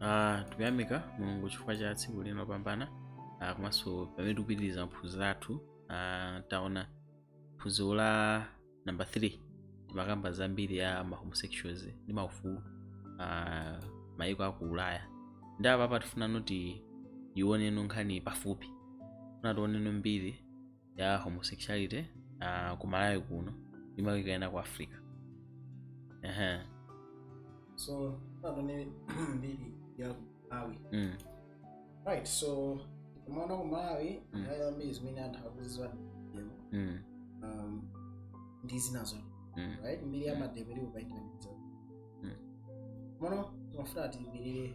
Ah, tikuyamika mulungu chifukwa cha tsiku lino pambana ah, komanso pamene tikupitiriza maphunziro athu ah, taona phunziro la namba 3 timakamba za mbiri ya ma homosexuals ndi maufulu ah, mayiko aku ulaya ndi apa apa tifuna noti tioneno nkhani pafupi tifuna tioneno mbiri ya homosexuality uh, ku malawi kuno ndi mayiko ena ku africa uh-huh. so tione mbiri ya malawi mm. right so timaona ku malawi Mm. nthawi zambiri zimene anthu akuzidziwa demo Mm. um, ndi zinazo Mm. right mbiri ya mademo ili kukaitaniza Mm. mono timafuna tibirire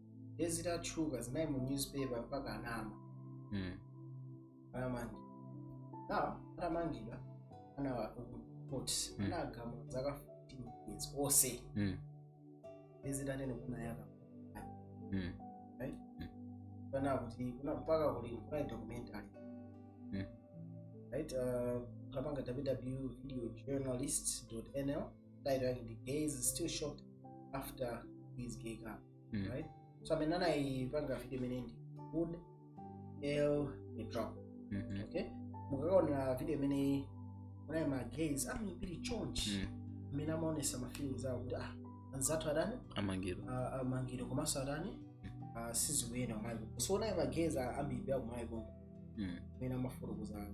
ndiye zitatchuka zinali mu newspaper mpaka anama Mm. anamangidwa na atamangidwa ana court Mm. anagamula zaka 15 years onse Mm. ndiye zitatero kuna yaka Mm. pano kuti kuna mpaka kuli kuna documentary Mm. right uh, kapanga www.videojournalist.nl title yake ndi gays is still shocked after his gay couple Mm. right so amene anayipanga video imene ndi good l mitrop Mhm. okay mukakaona video imeneyi muona ma gays ambiri chonchi Mm. amene amaonesa ma feelings awo kuti ah anzathu adani amangidwa ah, amangidwa komanso adani ah, sizikuyenda kumaiko so muona ma gays ambiri akumaiko mm. amene amafotokoza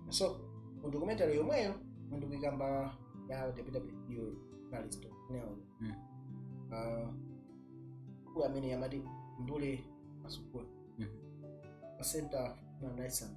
so mu documentary yomweyo ndikuyikamba ya ww journalist nl mm. uh, kuli amene yamati undule mwakasungula mm. wa center human rights and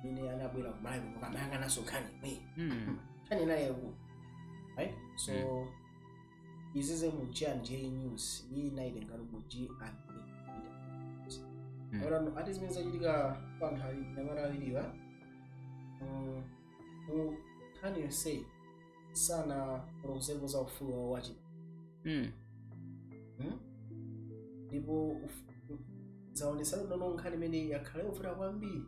amene anabwera kumalawi kuno kumayang'ananso nkhani imene Mm. nkhani inali yayikulu right so izize mu g and j news iyi ndinayitengano mu g and j Mm. orano ati zimene zachitika pa anthu anyamata awiriwa mu nkhani yonseyi sanafotokozepo za ufulu wawo wa chibadwa Mm. Hmm? ndipo uf- zaonetsano kuti nkhani imene yakhala yovuta kwambiri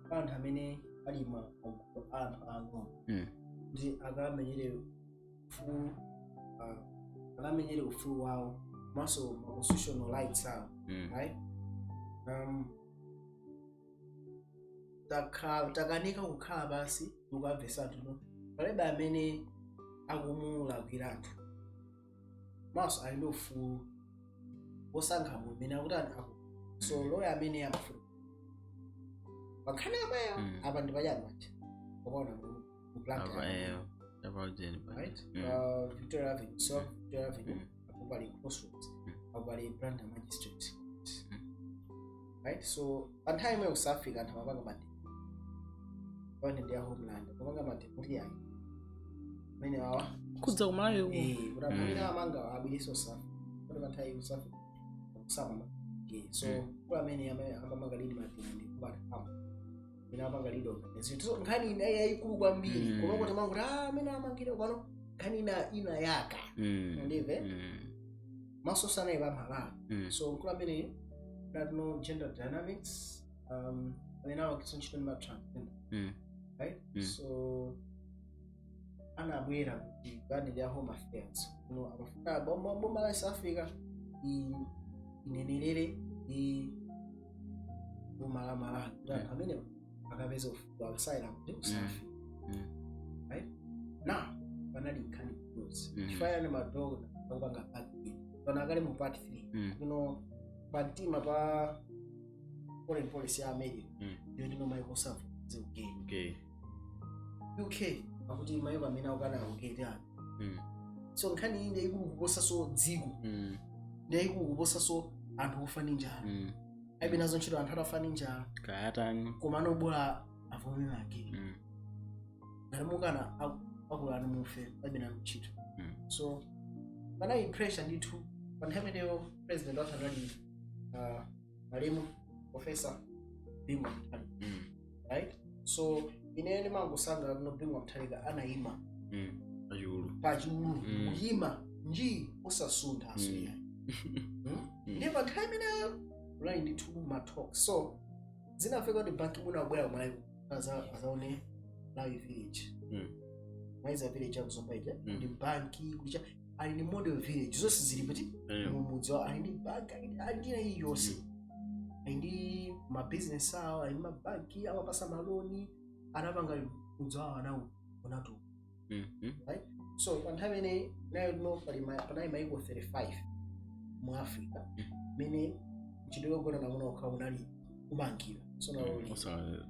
pa anthu amene ali ma magulu a anthu ang'ono Mm. kuti akamenyere ufulu ah, akamenyere ufulu wawo komanso ma constitutional rights awo Mm. right um, takhala takanika kukhala pansi ndikukamvesatu no palibe amene akumulakwiratu komanso ali ndi ufulu wosankha munthu amene akuti anthu aku so loya amene amafuna pankhani yomweyo Mm. apa ndi pachani paja ukaona mu mu blantyre apa eyo apa ujeni right Mm. uh, victoria avenue so victoria avenue Mm. apo pali crossroads apo pali blantyre magistrate right so pa nthawi imeneyo ku south africa anthu amapanga march pamene ndi ya homeland amapanga march kuti ayi amene awa kudza kumalawi uko eh kuti amene amanga abwere ku south africa kuti pa nthawi kusafi kusama okay so mkulu amene amene amapanga lead march ndi kubata kama amene amapanga lead organization so nkhani inali yayikulu kwambiri Mm. koma kuti mangu ah amene amangire pano nkhani ina inayaka Mm. Undive? Mm. maso onse anali pa malawi Mm. so mkulu amene that no gender dynamics um amene amagwira ntchito ndi ma transgender Mm. right Mm. so anabwera ku department ya home affairs kuno amafuna boma boma la south africa i- inenerere ndi boma la malawi kuti anthu amene akapeze ufulu wa asylum kuti ku south africa Mm. right now panali nkhani kudozi Mm. chifukwa chani madokota akupanga part b pano akali mu part 3 Mm. kuno pamtima pa foreign policy ya america Mm. yoti no maiko onse avomereze ugay Okay. uk akuti maiko amene akukana ugay aid no Mm. so nkhani iyi ndiyayikulu kuposaso dziko Mm. ndiyayikulu kuposaso anthu ofa ndi njala Mm. alibe nazo ntchito anthu atafa ndi njala kaya tani koma no bola avomere ma gay Mm. ngati mukana akulani mufe alibe nanu ntchito Mm. so panali pressure ndithu pa nthawi imeneyo president wathu anali uh, malemu profesa bingu Mutharika. Mm. right so ine ndimangosangalala kuno bingu mthalika anayima Mm. Pachulu. pachulu Mm. kuyima nji osasuntha asuya Mm. ndiye pa nthawi imeneyo kunali ndithu matalk so zinafika kuti ban ki moon anabwera kumalawi aza- azaone millennium village Mm. maiza village yakuzomba ija Mm. kuti banki kulicha ali ndi model village zonse zili pati Eh, mumudzi wawo ali ndi banki ali ndi- ali ndi ayi yonse ali ndi mabizinesi awo ali ndi mabanki amapasa maloni anapanga mudzi wawo anawuonatu mm, mm. so pa nthawi imeneyi nayo tino pali ma- panali maiko 35 mu africa amene mchitidwe ogonana amuna okha unali kumangira so nawo uli- Osa-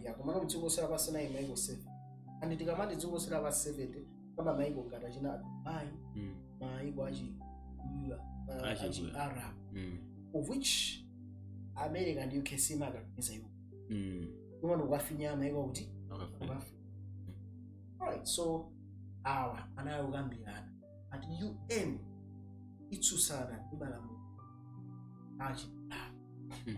ya komano mdziko lonse lapansi anali maiko 7 and tikamati dziko lonse lapansi koma maiko ngati achina dubai Mm. maiko achi uh, Achi- achi arab Mm. of which america ndi uk simakakamiza iwo Mm. koma ndikukafinya maiko kuti Okay. kukafi alright so awa anali kukambirana at un itsutsana ndi malamulo achi Mhm.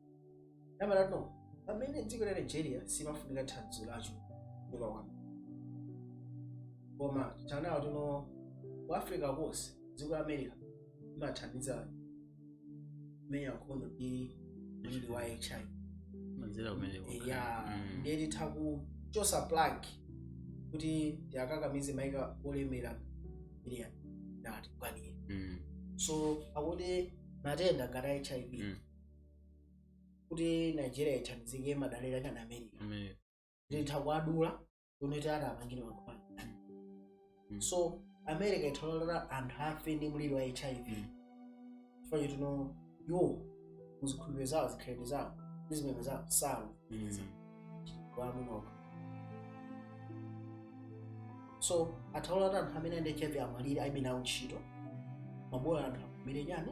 nambala no pamene dziko la nigeria simafunika thandizo lacho kutoka kwa koma anaona kuti no ku africa konse dziko la america imathandiza kumenya nkhondo ndi mliri wa hiv mwanjira imeneyo ya Mm. ndiye titha kuchosa plug kuti tiwakakamize maiko olemera ilia natikwanire Mm. so akuti matenda ngati a hiv Mm. kuti nigeria ithandizike imadalira chani america America. titha kuwadula kuti tati apangire mankhwala Mm. so america itha kulolera anthu afe ndi mliri wa hiv chifukwa choti no iwo muzikhulupiriro zawo zikhalidwe zawo ndi zipembedzo zawo sawo Mm. wamunoka so atha kulolera anthu amene ali ndi hiv amwalire alibe nawo ntchito bola anthu amwalire chani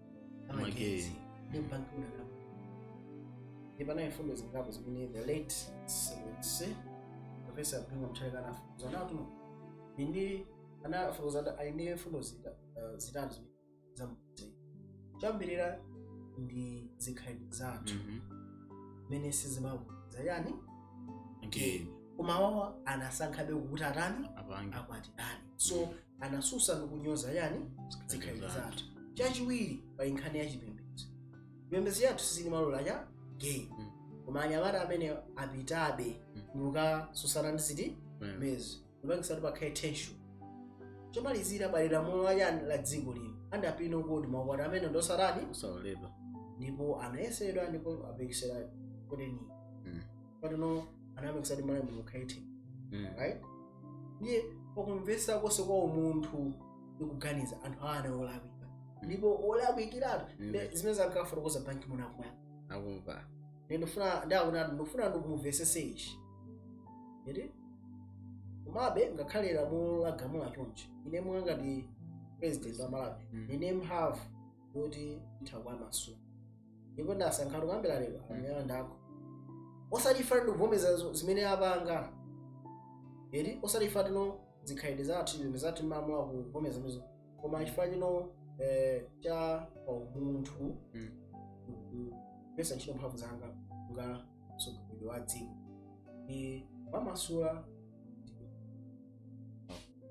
amagetsi ndi ban ki moon akapa ndi panali mfundo zingapo zimene the late science professor bingu wa mutharika anafotokoza kuti no ndiye anafotokoza ali ndi mfundo zita- eh, zitatu zimene zamudzi choyambirira ndi zikhalidwe zathu mmene sizimaloleza chani gay koma awa anasankhabe kuti atani apange akwatirane so anasusa ndi kunyoza chani zikhalidwe zathu chachiwiri pali nkhani ya chipembedzo chipembedzo chathu sichimalola cha gay Mm. koma anyamata amenewa apitabe Mm. ndikukasusana ndi zipembezo Mm. ndikupangisa kuti pakhale tension chomalizira pali lamulo la chani la dziko lino under penal code maukwati amenewa ndosatani Osaloledwa. ndipo anayesedwa ndipo apekesera koteni Mm. patino anayamba kusati malawi muno khaithe Mm. right ndiye pakumvetsa konse kwa umunthu ndikuganiza anthu awa anali olakwika ndipo olakwikiratu Mm. Nde zimene ankafotokoza ban ki moon akumva akumva ndikufuna ndaona ndikufuna ndikumvesese ichi eti komabe ngakhale lamulo lagamula chonchi ine mwa ngati president wa malawi Mm. ndili ndi mphamvu yoti nditha kuwamasula ndipo ndasankha kukambira lero amene ndakho osati chifukwa ndikuvomereza zo- zimene apanga eti osati chifukwa kuti no zikhalidwe zathu zipembedzo zathu malamulo akuvomereza mizo koma chifukwa chino eh, cha pa umunthu Mm. kugwiritsa ntchito mphamvu zanga ngati mtsogoleri wa dziko ndawamasula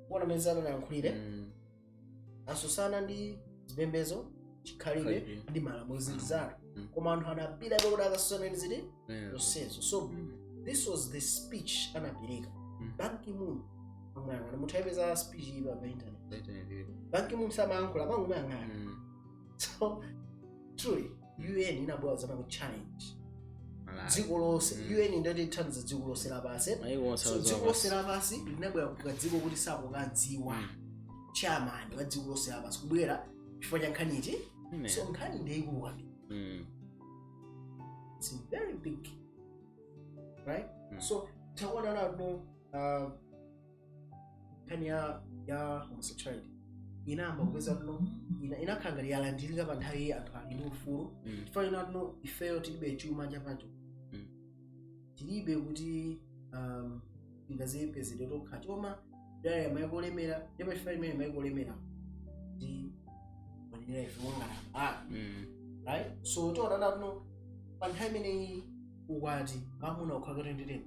kuona mmene anayankhulira Mm. asusana ndi zipembezo chikhalidwe Chikhalidwe. ndi malamulo zinthu zitatu Mm. koma anthu anapita kuti akasusana ndi ziti Eh, zonsezo so mm, this was the speech anapereka Mm. Ban Ki-moon amuyang'ana mutha kuyipeza speech iyi pa pa internet internet ilipo. Ban Ki-moon samayankhula amangomuyang'ana Mm. so truly UN inabwera zama ku challenge Malawi. dziko lonse Mm. UN ndati ithandiza dziko lonse lapansi Maiko onse so azowa dziko lonse basi. lapansi linabwera ku kadziko koti sakukadziwa Mm. chairman wa dziko lonse lapansi kubwera chifukwa cha nkhani iti Amen. so nkhani ndeyikulu kwambiri Mm. it's very big right Mm. so takuona nano uh, nkhani ya ya homosexuality inayamba kupeza kuno ina- inakhala ngati yalandirika pa nthawi iyi anthu ali ndi ufulu Mm. chifukwa ina kuno ifeyo tilibe chuma chapacho Mm. tilibe kuti um, tingazipezere tokha timadalira maiko olemera ndipo chifukwa imene maiko olemera ndi manenera ife mongana ah Mm. right so tiona nakuno pa nthawi imeneyi ukwati amuna okhaokha kuti nditeni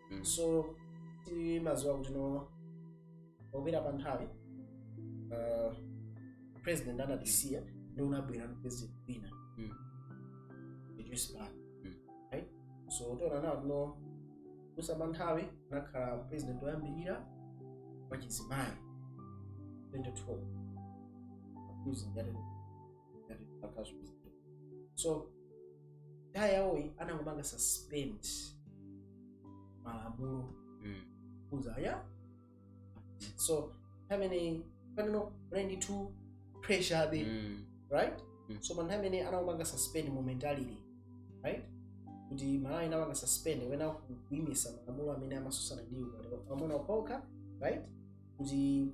Mm. so timaziwa kuti no popita pa nthawi uh, president anatisiya ndiye kunabwera ndi president wina Mm. Joyce Banda Mm. right so tiona nawo tino kusa pa nthawi anakhala president woyambirira wachizimayi 2012 Accusing that ngati akazuza so nthawi yawoyi anangopanga suspend malamulo Mm. kuza ya so nthawi imeneyi paneno kunali ndithu pressure abe Mm. right Mm. so panthawi imene anangopanga suspend momentarily right kuti Malawi inapanga suspend kapena kuimisa malamulo amene amasusana ndi ukwati amuna okhaokha right kuti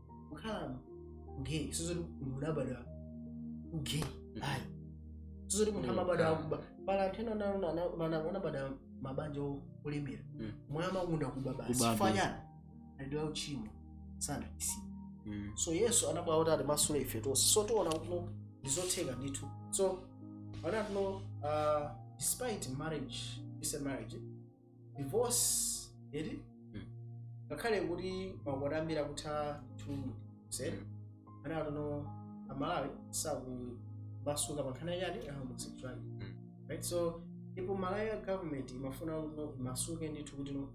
kukhala gay sizoti munthu unabadwa gay ayi sizoti munthu Mm, amabadwa ah. akuba pali anthu ena ana- ana- ana- anabadwa mabanja o- olemera Mm. koma amakonda kuba basi Kuba chifukwa basi. chani ali ndi uchimo sana isi Mm. so Yesu anabwera kuti atimasule ife tonse so tiona kuti ndizotheka ndithu so ana kuno uh, despite marriage is a marriage divorce eti Mm. ngakhale kuti maukwati ambiri akutha chulu zedi anati no amalawi sakumasuka pankhani ya chani ya homosexuality Mm. right so ndipo malawi ya government imafuna kuti no imasuke ndithu kuti no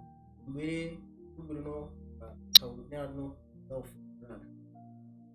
kubwere kubwere no uh, tawunewa no tawufunana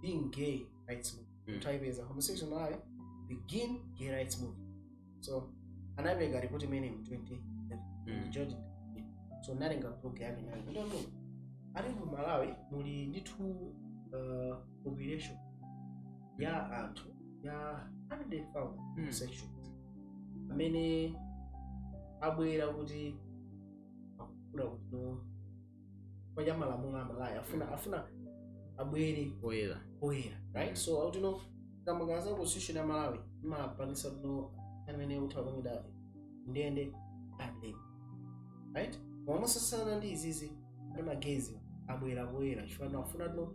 begin gay rights movement Mm. mm. taipeza homosexuals in malawi begin gay rights movement so anapereka ripoti imene mu 2011 Mm. george W. so analemba blog yake nayo kuti no ati mu malawi muli ndithu uh, population ya anthu ya 100000 Mm. homosexuals amene abwera kuti akufuna kuti no paja malamulo a malawi afuna afuna abwere poyera poyera right so ati no kamba ka za constitution ya malawi imapangisa no amene utapangida ndende adlib right koma motsutsana ndi izizi ndi ma gays abwera poyera chifukwa no afuna no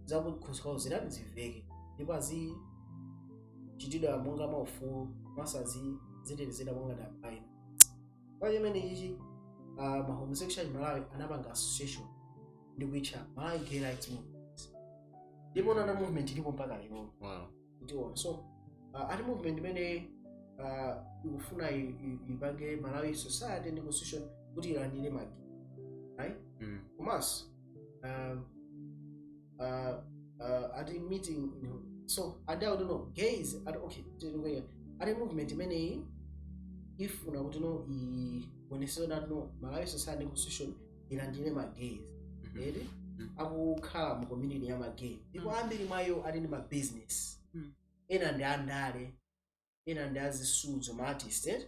zakukhosi kwawo zitani ziveke ndipo azichitidwa monga maufulu komanso azitetezedwa monga dabaina kwa chimene ichichi uh, ma homosexual in malawi anapanga association ndi kuitcha malawi gay rights movement ndipo nana movement ilipo mpaka lero Wow. ndiona so uh, ati movement imene uh, ikufuna i- i- ipange malawi society ndi constitution kuti ilandire ma gays right Mm. komanso um, uh, uh, ati meeting you know. so ada kuti no gays ati okay tikuya ati movement imeneyi ifuna kuti no ionetsetse kuti no malawi society ndi constitution ilandire ma gays Mhm. eti Mhm. akukhala mu community ya ma gay ndipo Mm. ambiri mwa iwo ali ndi ma business Mm. ena ndi andale ena ndi azisudzo ma artist eti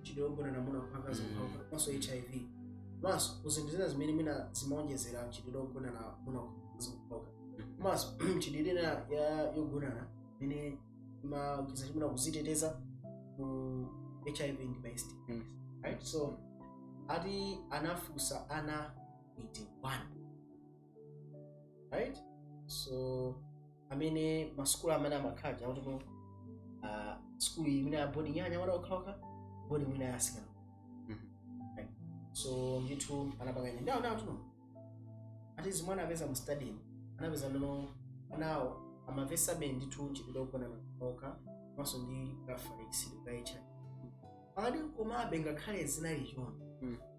mchitidwe ogonana amuna kapena akazi okhaokha komanso hiv komanso ku zinthu zina zimene mwina zimaonjezera mchitidwe ogonana amuna kapena akazi okhaokha komanso michitidwe ina ya- yogonana imene imaonjeza chimuna kuziteteza ku hiv ndi ma STIs. Mm. right so ati anafunsa ana 81 right so amene masukulu amene amakhala chakuti no uh, skulu imene ya boarding ya anyamata okhaokha boarding imene yasikana Mhm. right so ndithu anapanga ine ndawo ndawo kuti no ati zomwe anapeza mu study anapeza kuti no anawo amamvetsabe ndithu mchitidwe ogonana okhaokha komanso ndi reference ka hiv ali komabe ngakhale zinali choncho Mm.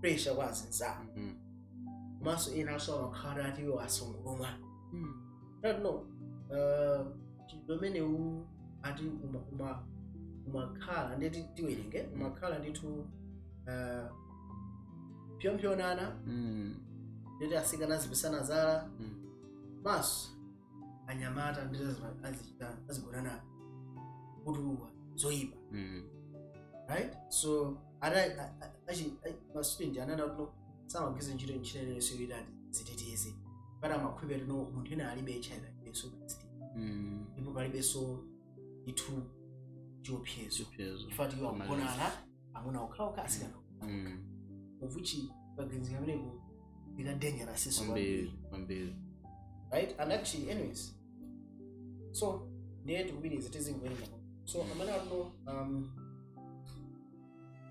pressure kwa azinzako Mhm. komanso ena aso amakhala ati iwo asungulumwa Mm. I don't know uh, mchitidwe umenewu eti uma- uma- umakhala ndeti tiwerenge umakhala ndithu uh, pyompyonana Mm. ndeti asikana azipisana zala Mm. komanso anyamata ndeti azima- azichita azigonana kotulukira zoyipa Mm. right so ma student ananena kuti no samagwiritsa ntchito njira iliyonse yoti adziteteze poti amakhulupira kuti no munthu ena alibe hiv alibenso ma stis Mm. ndipo palibenso ndithu chiopsezo Chiopsezo. chifukwa choti iwo akugonana amuna okhaokha asikana Mm. uvuchi kaganizidwe kameneka ili dangerous so kwambiri kwambiri kwambiri right and actually anyways so ndiye tikupitiriza tizingoyenda so amanena kuti no um,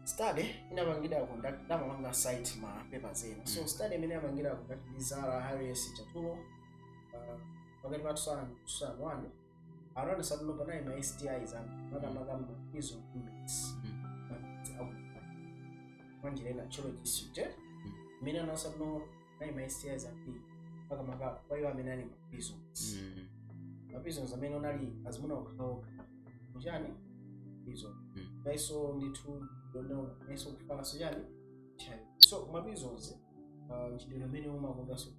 study inapangidwa conduct amapanga cite ma papers ena so Mm. study imene inapangidwa conduct ndi zara harris chatulo uh, pakati pa 2000 2001 anaonetsa kuti no panali ma stis ambiri makamaka maizo bullets mapiritsi akupha mwanjira ina thyolo district imene inaonetsa kuti no anali ma stis ambiri makamaka kwa iwo amene ali ma prisons Mm. ma prisons amene munali azimuna okhaokha kuchani prison Mm. naiso ndithu kuti no naiso kufala so ujeni chani so ma prisons uh, mchitidwe amene umakondaso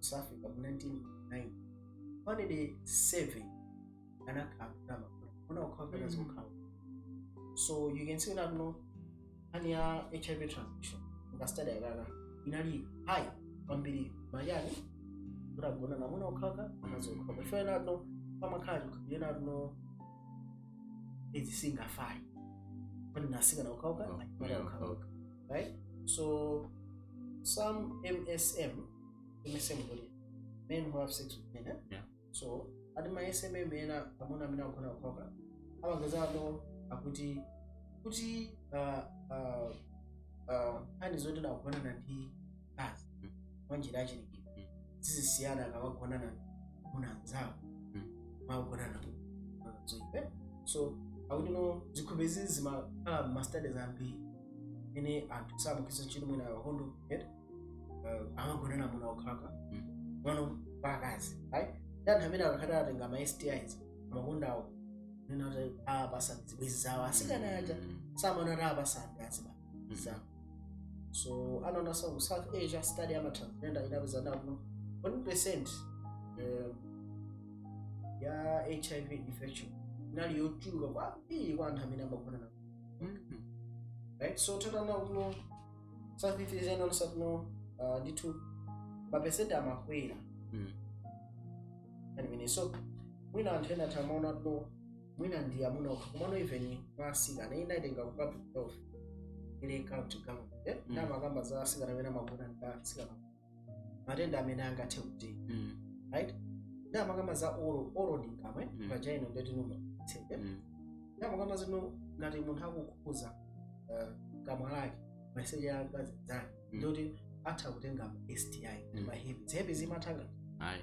south africa mu 1999 panede 7 anakhala kunama kuna kukhala pena zokhala so you can see that no ani ya hiv transmission mu ka study aka inali high kwambiri mwa ujeni anthu ogonana amuna okhaokha anazokhala ife enafe pamakhala kunena kuti no izi sizingafale kwani atsikana okhaokha Okhaokha. right so some msm msm body men who have sex with men eh? Yeah. so ati ma msm ena amuna amene akugonana okhaokha amaganiza akuti kuti uh, uh, uh, nkhani zoti akugonana ndi mkazi Mm. mwa njira yachilengedwe Mm. sizisiyana akawagonana amuna anzawo Mm. mmalo otulukira zoipa so akuti no zikhope zizi zimakhala mmastudies ambiri ena anthu samagwiritsa ntchito mwina kondomu amagonana amuna okhaokha Mm. komanso akazi right ndi anthu amene akakhala atenga ma stis amakonda kunena kuti apasana zibwenzi zawo asikana aja samanena kuti apasana azibaba za so anaonanso ku south asia study ya ma transgender inapeza zonena kuti no 1 percent eh, ya hiv infection inali yochuluka kwambiri kwa anthu amene amagonana right so titha kuona kuti no south asia inonso kuno uh, ndithu mapesenti amakwera Mm. anyway so mwina anthu ena atha kumaona kuti no mwina ndi amuna okha komano even mwa asikana iyi ndayitenga ku public health la county government eh? Mm. nde amakamba za asikana amene amagona ndi asikana matenda amene angathe kuti Mm. right nde amakamba za oral oral ndi kamwa Mm. vagina nde kuti numba tsende Mm. nde amakamba zoti no ngati munthu akukhudza uh, kamwa lake maliseche a mkazi mnzake Mm. nde kuti atha kutenga ma sti Mm. ma herpes herpes imatha ngati Ayi.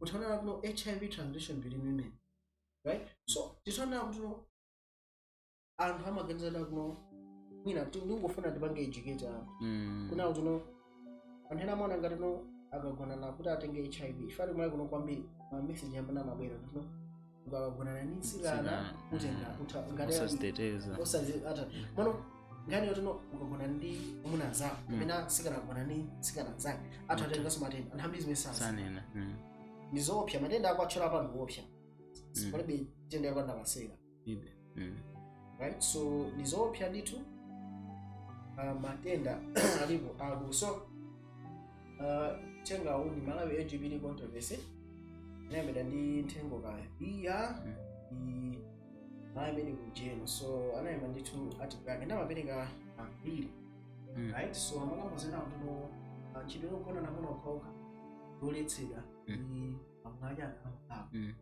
utha kuona kuti no hiv transmission between women right so titha kuona kuti no anthu amaganiza kuti no mwina ti- ndingofuna ndipange educate anthu Mm. kunena kuti no anthu ena amaona ngati no akagonana kuti atenge hiv chifukwa choti malawi kuno kwambiri ma message amene amabwera kuti no ukagonana ndi mtsikana Mtsikana, utenga mm. utha ngati ali- osaziteteza osazi- ata- komano nkhani yoti no ukagonana ndi amuna anzako Mm. kapena mtsikana akagona ndi mtsikana mnzake atha Mm. kutenganso matenda anthu ambiri zimenezo sanena mm. ndizoopsa matenda akuwatchula apa ndi oopsa Mm. palibe nthenda yapanda masera ibe Mm. right so ndi zoopsa ndithu uh, matenda alipo akulu so uthenga uwu ndi malawi lgbt controversy inalembedwa ndi nthengo kaya iya i anayambeni kujeni so analemba ndithu article yake nde amapereka mbiri Mm. right so amakamba zonena kuti no mchitidwe wogonana amuna okhaokha ndi woletsedwa Mm. ndi amwanya akamkako Mm.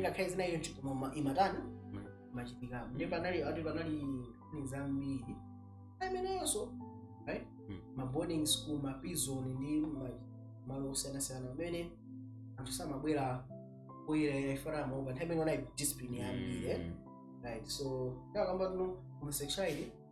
ngakhale zinali chonchi koma ma- imatani Mm. machitika ndi panali ati panali nkhani zambiri nthawi imeneyonso right Mm. ma boarding school ma prison ndi ma- malo osiyanasiyana pamene anthu samabwera poyera chifukwa amaopa nthawi imene kunali discipline yambiri eh? right so nde akamba kuti no homosexuality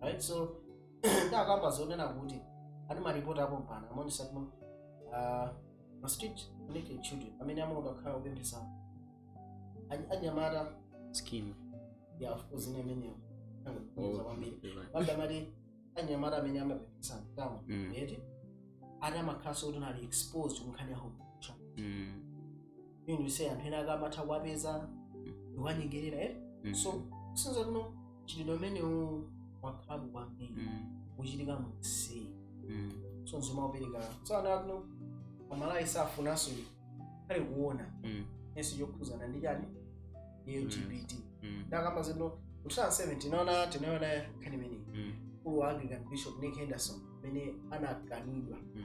right so nde akamba zonena kuti ati maripoti a pompano amaonetsa kuti uh, ma street connected children amene amakonda kukhala kupemphetsa Any- anyamata masikini ya of course ine imeneyo angoza kwambiri pambe amati anyamata amene amapemphetsa mtaunimo Mm. eti ati amakhalanso kuti no ali exposed kunkhani ya homo Mm. mean we say anthu ena akamatha kuwapeza ndikuwanyengerera eh Mm. so sinza kuno mchitidwe umenewu wakhalapo kwambiri Mm. kuchitika mu mseri Mm. so nzima upereka so anthu akuno amalawi safunanso ali kuona Mm. enso chokhuzana ndi chani ndi lgbt Mm. ndakamba zino mu 2007 tinaona tinaona nkhani imeneyi Mm. mkulu wa anglican bishop nick henderson amene anakanidwa Mm.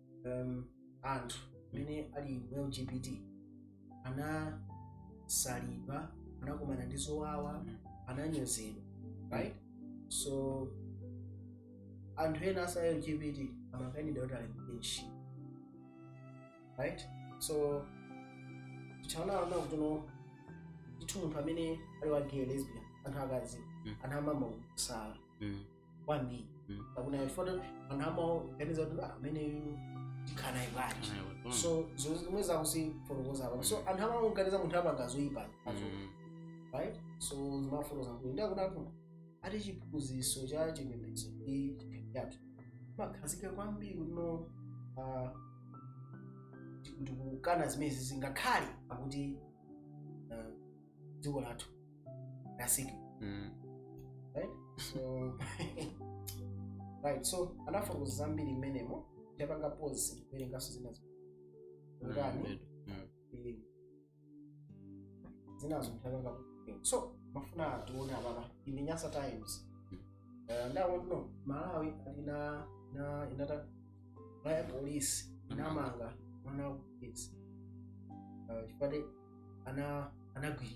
um, anthu amene ali mu lgbt anasalidwa anakumana ndi zowawa Mm. ananyozedwa right so anthu ena a za lgbt amakanidwa kuti alembedwe ntchito right so tikaona kuti no ndithu munthu amene ali wa gay lesbian anthu akadziwa Mm. amamusala Mm. kwambiri Mm. pakuna ifoto anthu amaganiza kuti "Ah, ameneyu ndikhala naye bwanji so zinthu zomwe akuzifotokoza apa so anthu amamuganiza munthu apanga zoyipa azo right so zimafotokoza kuti ndakunapo ati chiphunzitso cha chipembedzo ndi chipembedzo chakhazikika kwambiri kuno ah, ndi- ndikukana zimenezi zingakhale akuti ah, dziko lathu that's it Mm. right so right so anafotokoza zambiri mmenemo tapanga pause ndikuwerenganso zina zi- nkhani Mm. ili zinazo mtapanga so ndimafuna tione apapa in nyasa times Eh, ndawo no malawi ali na na inata raya polisi inamanga mwana wa polisi Eh, chipate ana anagwira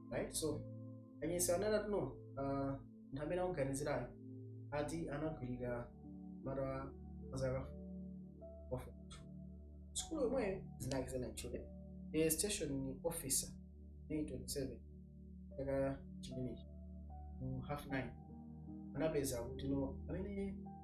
right so a nyasa anali ati no uh, munthu amene akuganizirayo ati anagwirira mwana wa zaka sukulu yomweyo dzina lake sanatchule the station officer may 27 chaka chimenechi mu half nine anapeza kuti no amene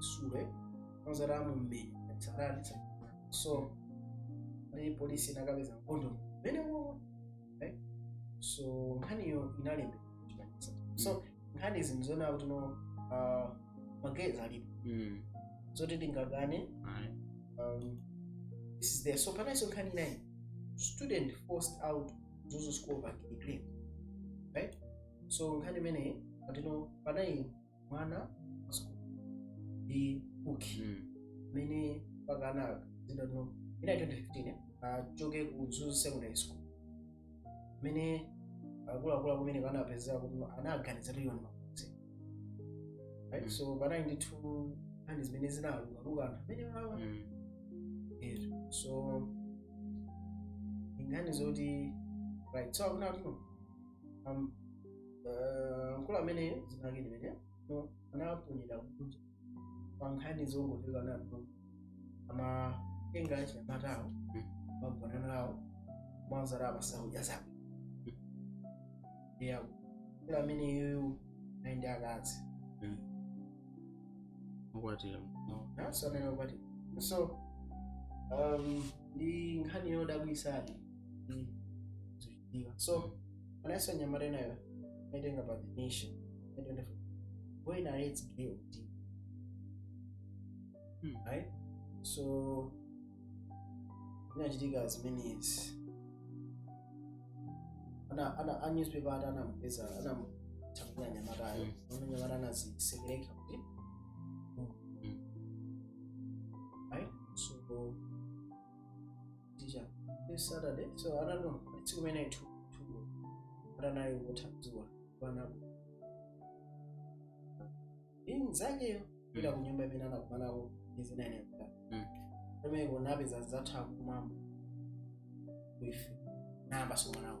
sure kwanza ramu mmenya tsarari so nde polisi inakapeza kondomu mmenemo eh? so nkhaniyo inalembe kuchitanisa so nkhani izi ndizoona kuti no uh, ma gays alipo Mm. zoti tingakane Ayi. um, this is there so panalinso nkhani inayi student forced out mzuzu school being gay right so nkhani imeneyi ati no panayi mwana wa sukulu ndi uki Mm. amene mpaka anadziwa anthu ina 2015 eh, achoke ku Mzuzu secondary school amene akuluakulu kumeneko atapeza kuti anaganiza tilioni makuzi right Mm. so panali ndithu nkhani zimene zinalukaluka anthu amenewa Mm. Yes. so nkhani zoti right so akuti um, uh, mkulu amene dzina lake limenelo anaponyera kunja pa nkhani zogonana nawo amatenga achinyamatawo amagona nawo mwanzeru amasautsa zawo yeah mkulu amene iyeyo ali ndi akazi wokwatira naso amene okwatira so um, ndi nkhani yodabwisadi Ndiyo. So, anayesa mnyamata nayo naitenga pa the nation. Naitenga for who narrates gay or deep. Hmm. Right? So, inachitika as many as ana ana a newspaper ati anamupeza anamuthamangira mnyamatayo ona mnyamata anazisekereka kuti right so tija this saturday so i don't know tsiku limene ithu thuko atanayo kutha dzuwa panapo mnzakeyo kupita ku nyumba imene anakumanako izinaneka Mm. pamene kunapeza zatha kumwamba kuife namba somanawo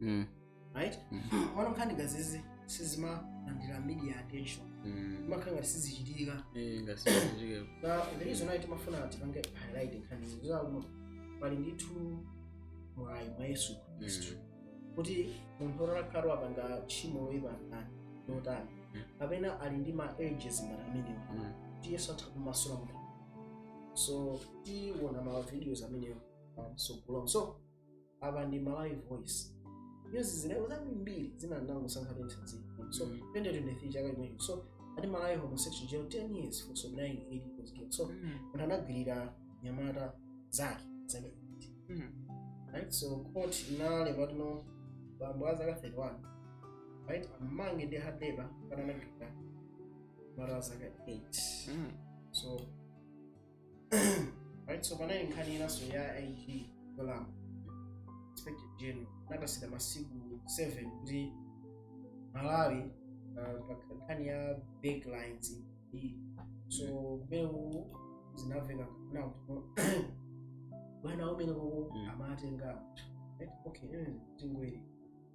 mm. right mm. ono nkhani ngati izi sizimalandira media attention mm. imakhala ngati sizichitika eh, the reason why timafuna tipange highlight nkhani zake pali ndithu mwayi mwa yesu khristu mm. kuti munthu otakhala wapanga tchimo loyipa lotani mm. kapena ali ndi ma urges ngati amenewa mm. kuti yesu atha kumasula munthu so tiwona ma videos amenewa um, so kulong so apa ndi malawi voice news ziliko zambiri zina ndinangosankha zitsanzo so Mm. 2023 chaka chimenecho so ati malawi homosexual jailed 10 years for sodomising 8 year old so Mm. munthu anagwirira mnyamata wa zaka 8 Mm. right so court inalemba kuti bambo a zaka 31 right amange ndi hard labor kamba anagwirira mnyamata wa zaka 8 Mm. so right so panali nkhani inanso ya ig dolam inspector general anapatsidwa masiku 7 kuti malawi uh, pa nkhani ya big lines iyi so kumene zinaveka na bwana amene uko Mm. amatenga right? okay mm, tingwere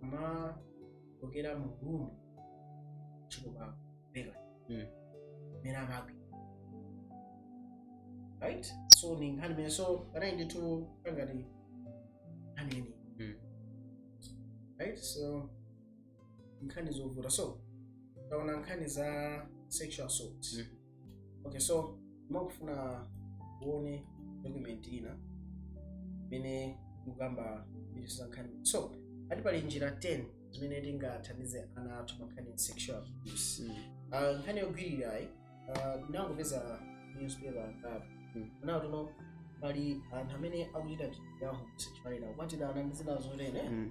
makokera mu room chikuba bela Mm. mmene amagwi right so ni nkhani imenenso panayi ndithu pangati nkhani yeni Mm. right so nkhani zovuta so taona nkhani za sexual assault Mm. okay so makufuna uone document ina imene ikukamba mbiri zankhani so ati pali njira 10 zimene tingathandize ana athu pankhani ya sexual abuse Mm. Ah, nkhani yogwirirayi ndinangopeza newspaper angapo Mm. naona kuti no pali anthu amene akuchita ntchito ya homosexuality akukwatirana ndi zina zotene Mm.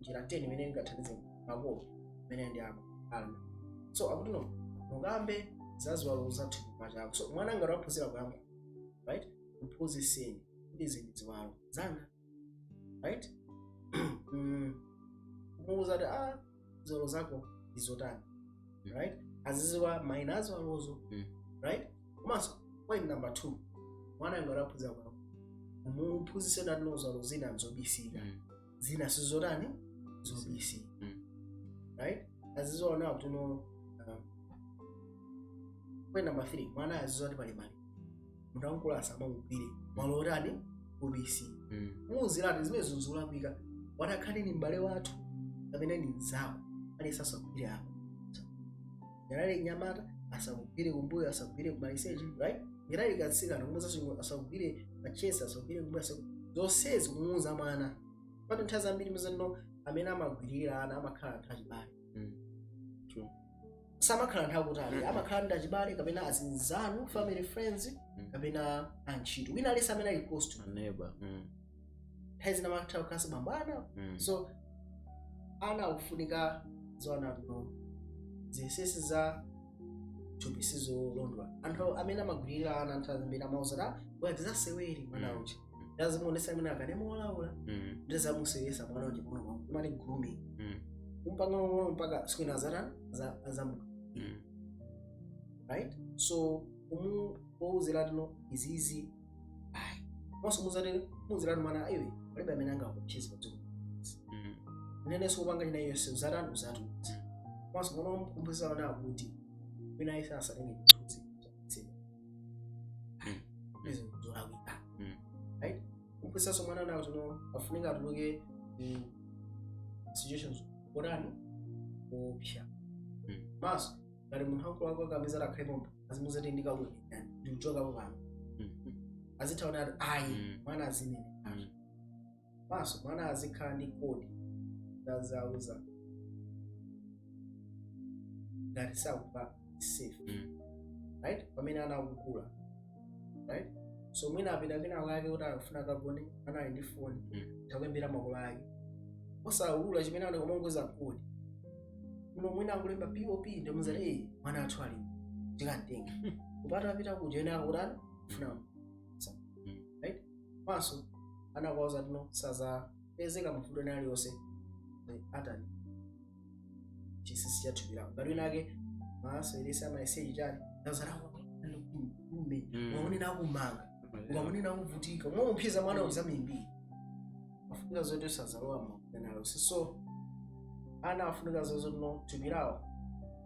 njira 10 imene ingathandize makolo imene ndi ako ana so akuti no mukambe za ziwalo za thupi pa chako so mwana ngati waphunzira kuyamba right mphunzitseni kuti izi ndi ziwalo zanga right Mm. kumuwuza kuti ah ziwalo zako ndi zotani Mm. right aziziwa maina a ziwalozo Mm. right komanso point number two mwana ngati waphunzira kuyamba mumuphunzitse kuti no ziwalo zina nzobisika Mm. zina sizotani zobisika Mm. right aziziwa kuti no um, point number three mwana aziziwa kuti pali malo munthu wamkulu asamamugwire malo otani obisika Mm. muuzire kuti zimenezi nzolakwika atakhala ni m'bale wathu kapena ni mzawo aliyense asakugwire apo ngati ali mnyamata asakugwire kumbuyo asakugwire kumaliseche right ngati ali katsikana kumuuza asakugwire ma chest asakugwire kumbuyo asaku- zonsezi kumuuza mwana poti nthawi zambiri muzaona amene amagwiririra ana amakhala anthu achibale True. samakhala anthu akutali Mhm. amakhala ndi achibale kapena azinzanu family friends Mhm. kapena antchito wina aliyense amene ali close to you. Neighbor. Mm. nthawi zina amatha kukhalanso bambo ana Mm. so ana akufunika aziziwa kuti no zinsinsi za thupi sizolondola anthu amene amagwirira ana nthawi zambiri amauza kuti bwera tizasewere mwana Mm. uchi ndazimuonesa amene makanema olaula Mm. ndizamusewesa mwana uchi mwana wangu amati grooming Mm. kumpanga pang'ono mpaka siku lina azatani azamuka Mm. right so umuuzire kuti no izizi ayi komanso muzatero muzirani mwana iwe palibe amene angakuopseze padziko Mm. nenenso kupanga china yonse uzatani uzatiuza komanso mwana wamkumbuza wana akuti wina aliyense asatenge chithunzi chakutsira ayi izi ndizolakwika Mm. right kumphunzitsanso mwana wanu kuti no afunika atuluke mu situations zotani zoopsa Mm. komanso ngati munthu wamkulu akakamiza atakhale pomba azimuuza kuti ndikabwekera ndikuchokapo pano azitha kunena kuti ayi Mm. mwana azinene Mm. manso mwana azikhala ndi kodi zazauza ngati sakumva safe Mm. right pamene ana akukula right so mwina apita kwina kwake kuti akufuna akagone anali ndi foni Mm. atha kuimbira makolo ake osaulula chimene anali kumangouza kodi muno mwina akulemba pop ndimuzati eyi mwana athu ali tikamtenga kupata apita kuja ena akutani funa right manso ana kuwauza kuti no sazapezeka mavuto ena aliyonse atani chinsinsi cha thupi lako ngati winawake maso ilesi amaliseche atani nazarakulume Mm. ukanena akumanga ukanena akuvutika mwamupheza mwana uzamimbiri afunika zoti usazalowa mavuto aliyonse so ana afunika zoti no thupi lawo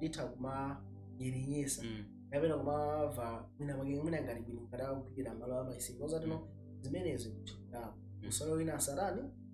litha kumanyerenyetsa Mm. kapena kumamva mwina mwake mwina ngati bwino ngati akugwira malo amaliseche kuwauza kuti no zimenezo thupi lawo Mm. usalole wina asatani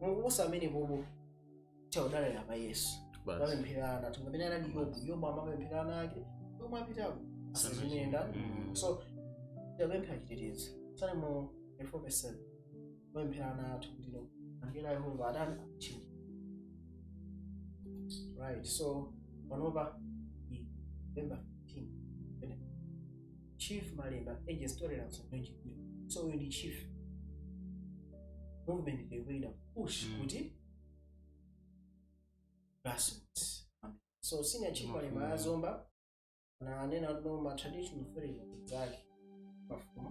mukupusa amene bobo timadalira pa yesu basi timapempherera ana athu amene anali yobu yobu amapempherera ana ake komwe apitako asazimuyenda Mm. so tapempha chitetezo salimo 4 verse 7 timapempherera ana athu kuti no angelo a yehova atani atchinge right so panopa i- november 15 chief malemba urges tolerance on LGBT so uyu ndi chief movement ndikuina push Mm. kuti grassroots so senior chief malemba a zomba ananena kuti no ma traditional authorities ake mafumu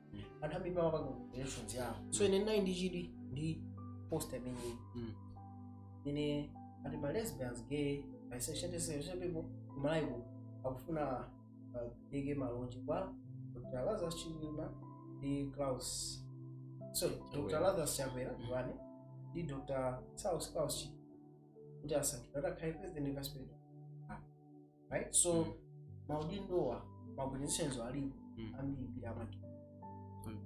anthu ambiri amapanga reference yawo so ine ndinali ndi chidwi ndi post imeneyi Mm. ine ati ma lesbians gay bisexual intersexual people kumalawi kuno akufuna apereke malonje kwa dr lazarus chilima ndi klaus sorry dr Chakwera. lazarus chakwera ndiwane ndi dr saulos klaus chilima kuti asankhidwe atakhale president vice president right so mm. maudindowa maorganizations alipo mm. ambirimbiri amati mm.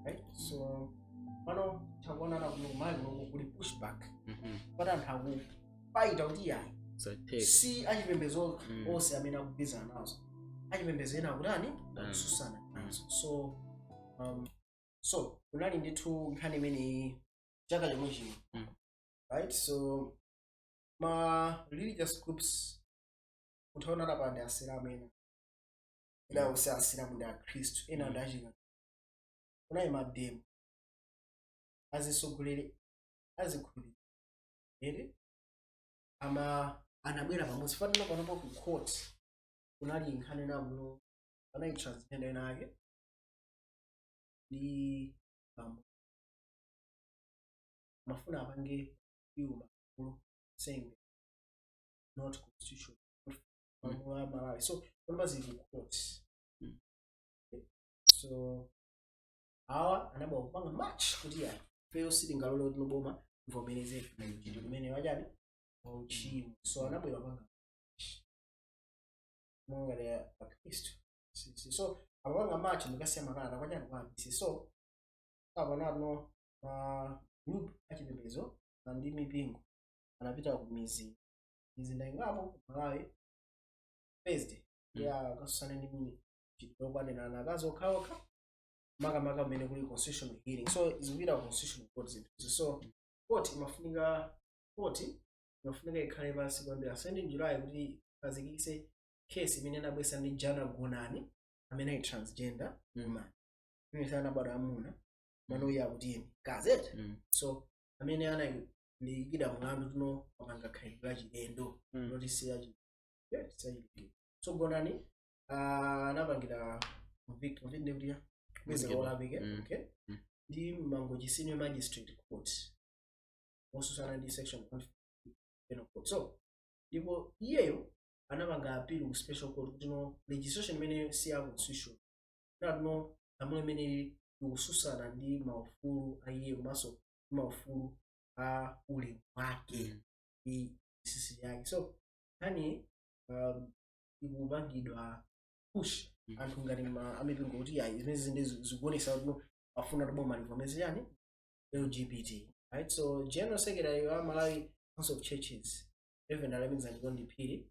right so pano takuona na kuno kumalawi kuno kuli pushback mm -hmm. pali anthu akufaita kuti yayi si achipembezo mm. onse amene akugwirizana nazo achipembezo ena akutani mm. akutsutsana mm. nazo so um, so kunali ndithu nkhani imeneyi chaka chomwe chino mm. right so ma religious groups utaona apa ndi asilamu ena ena onse asilamu ndi akhristu ena ndi achika kunayi mademo azitsogoleri azikhulupirira ere ama anabwera pamodzi chifukwa panopa ku court kunali nkhani nakuno pali transgender ena ake ndi bambo mafuna apange yuma law saying not constitutional malamulo a malawi so panopa zili ku court Mm. so awa anabwera kupanga march kuti ifeyo sitingalole kuti boma livomereze chinthu chimene chachani wauchimo so anabwera kupanga march monga a akhristu Si- si- so akapanga march ndikukasiya makalata kwachani kwa DC so apanano ma group achipembedzo koma ndi mipingo anapita ku mizi mizinda ingapo ku malawi thursday ya kukatsutsana ndi mi- chitiro wogonana akazi okhaokha makamaka kumene kuli constitutional hearing so zikupita ku constitutional court zinthuzi so court imafunika court imafunika ikhale pansi kwambiri 17 July kuti azizenge case imene anabweretsa ndi jana gonani amene ali transgender Mm. woman imene anabadwa mwamuna mano iye akuti ine gazette Mm. so amene analiikida mlandu kuti anapanga khalidwe la chilendo Mm. loti siya chilendo so gonani ah, anapangira convict convict ndi kuti kukupeza Convicted. olakwa Mm. okay Mm. ndi mangochi senior magistrate court otsutsana ndi section 150 penal code so ndipo iyeyo anapanga appeal ku special court kuti no legislation imene si ya constitution no lamulo limeneli likutsutsana ndi maufulu a iye komanso ndi maufulu a ulemu wake ndi chinsinsi chake so nkhani um, ikupangidwa push anthu ngati ma- amipingo kuti ayi zimenezi nde zikuonesa kuti afuna kuti boma livomereze chani lgbt right so general secretary wa malawi council of churches reverend alemekezeke chikondi phiri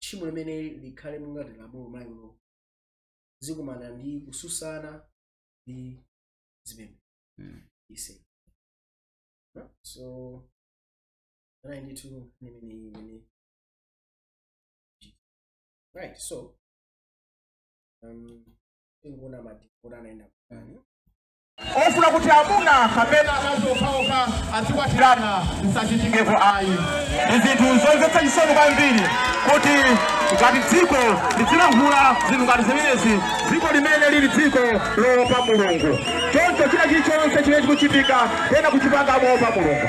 tchimo limene likhale monga ngati lamulo mwa iwo zikumana ndi kutsutsana ndi zipembedzo Mm. ise No? so anali ndithu nkhani imeneyi imene right so um tingoona ma court ayenda kutani ofuna kuti amuna kapena akazi okhaokha azikwatirana zisachitikeko ayi ndi zinthu zomvetsa chisoni kwambiri kuti ngati dziko lizilankhula zinthu ngati zimenezi dziko limene lili dziko loopa mulungu choncho china chilichonse chimene chikuchitika pena kuchipanga moopa mulungu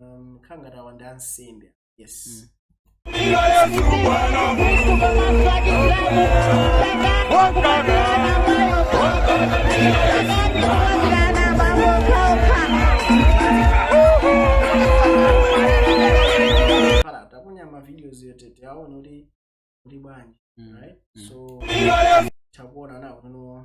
um, khala ngati awa ndi ansembe yes khala taponya ma videos yotete aone kuti uli bwanji Mm. right Mm. so takuona nawo kuno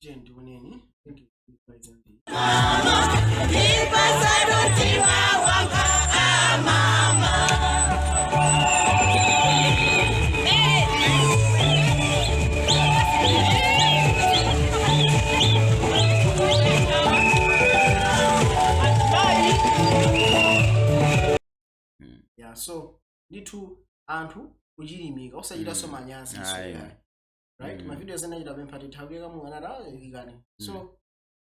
tiyeni tioneni thank you mbali zambiri ya so ndithu anthu kuchilimika osachitanso Mm. manyazi Ayi. so ya right Mm. mavideo ena anachita pempha tithawire kamwe anati ikani so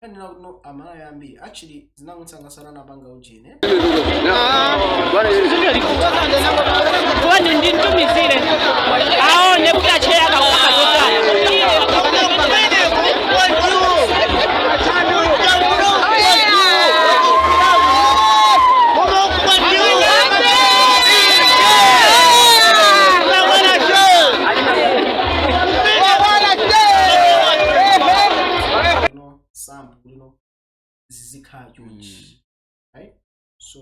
kanena kuti no amalawi ambiri actually zinamusangalatsa anapanga ujene wani ndi mtumizire aone kuti acheya kakupanga chotani sample kuli zizikhala chonchi right so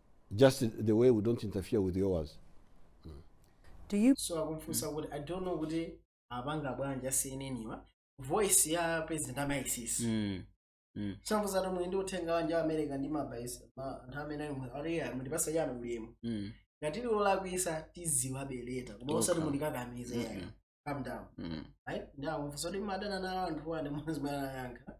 just the way we don't interfere with yours Do you so akumfunsa kuti i don't know kuti apanga bwanji asiyeneniwa voice ya president amaisisi Mm. Mm. some of them ndi uthenga wanje wa america ndi mabaisa anthu amene ali mu- ali ali mutipatsa chanu ulemu Mm. ngati liolakwisa tiziwa bereka koma osati Okay. mulikakamiza Mm, yayi mm. calm down Mm. right ndi akumfunsa kuti madana nawo anthu wane muzimana yankha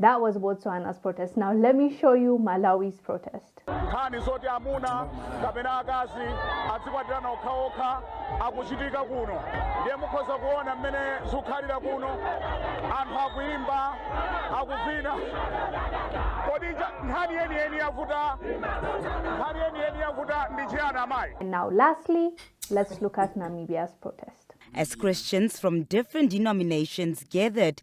That was Botswana's protest. Now let me show you Malawi's protest. nkhani zoti amuna kapena akazi adzikwatirana okhaokha akuchitika kuno ndiye mukhoza kuona mmene zikukhalira kuno anthu akuyimba akuvina kodi nja- nkhani yeniyeni yavuta nkhani yeniyeni yavuta ndi chiyani amayi And now lastly, let's look at Namibia's protest. As Christians from different denominations gathered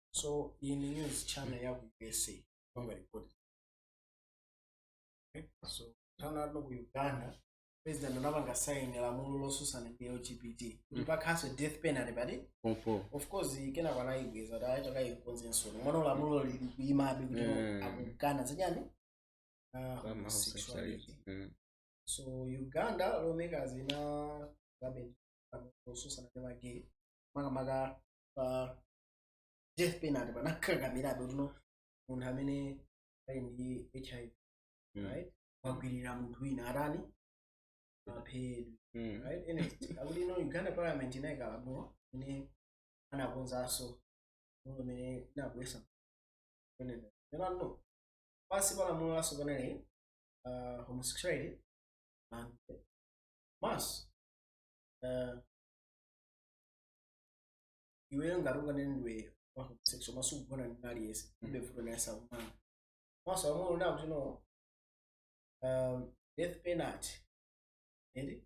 so iyi ndi news channel ya ku usa panga report okay? so tanalo ku uganda president anapanga sign lamulo losusana ndi lgbt kuti pakhalenso death penalty pati pompo of course kenako anayibweza ati akayikonzenso ndi mwana lamulo lili kuyimabe kuti Mm. akukana zachani Ah, Kama homosexuality. homosexuality. Mm. so uganda lawmakers inaikabe losusana ndi magay makamaka pa death penalty anakakamirabe kuti no munthu amene ali ndi hiv Mm. right wagwirira munthu wina atani aphedwe Mm. right anyway akuti no uganda parliament inayika lamulo imene anakonzanso lamulo imene inabwesa kunena kuti no pansi pa lamulo latsopanoli uh, homosexuality and mas uh, iweyo ngati unganene ndiwe homosexual koma sukugona ndi aliyense ilibe vuto ndiye sakumanga komanso lamulo likunena kuti no um, death penalty ende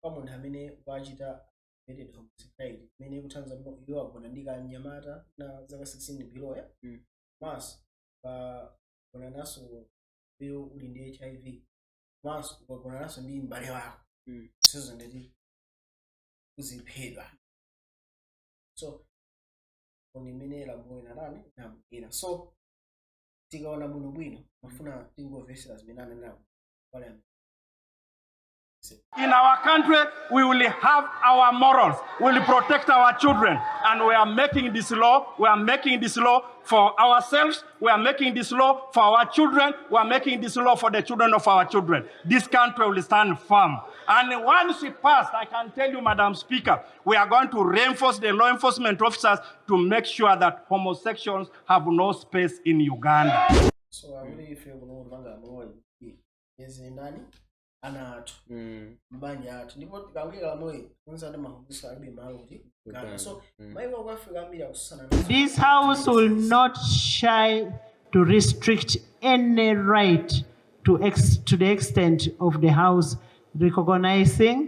kwa munthu amene wachita aggravated homosexuality imene ikutanthauza kuti iwe wagona ndi kanyamata na zaka 16 below ya Mm. komanso ukagonananso iwe uli ndi hiv komanso ukagonananso ndi mbale wako Mm. sizo ndiye kuti uziphedwa so ndi mmene lamulo linatani linabwera so tikaona bwinobwino mafuna tingomvesera zimene ananena pale amene In our country, we will have our morals. We will protect our children. And we are making this law. We are making this law for ourselves. We are making this law for our children. We are making this law for the children of our children. This country will stand firm. And once it passed, I can tell you, Madam Speaker, We are going to reinforce the law enforcement officers to make sure that homosexuals have no space in Uganda. So I really feel no longer more is in nani ana athu mabanja mm. athu ndipo tikawira lamoyi kunza ndi mahubusa alibe malo kuti so mm. mayi wa kuafrika ambiri akususana this house will not shy to restrict any right to, ex to the extent of the house recognizing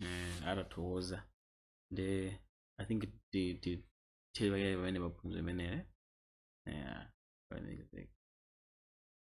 mm, ah tathokoza ndi i think ti- ti- tili pakale pamene paphunzo imeneyo yeah, pamene-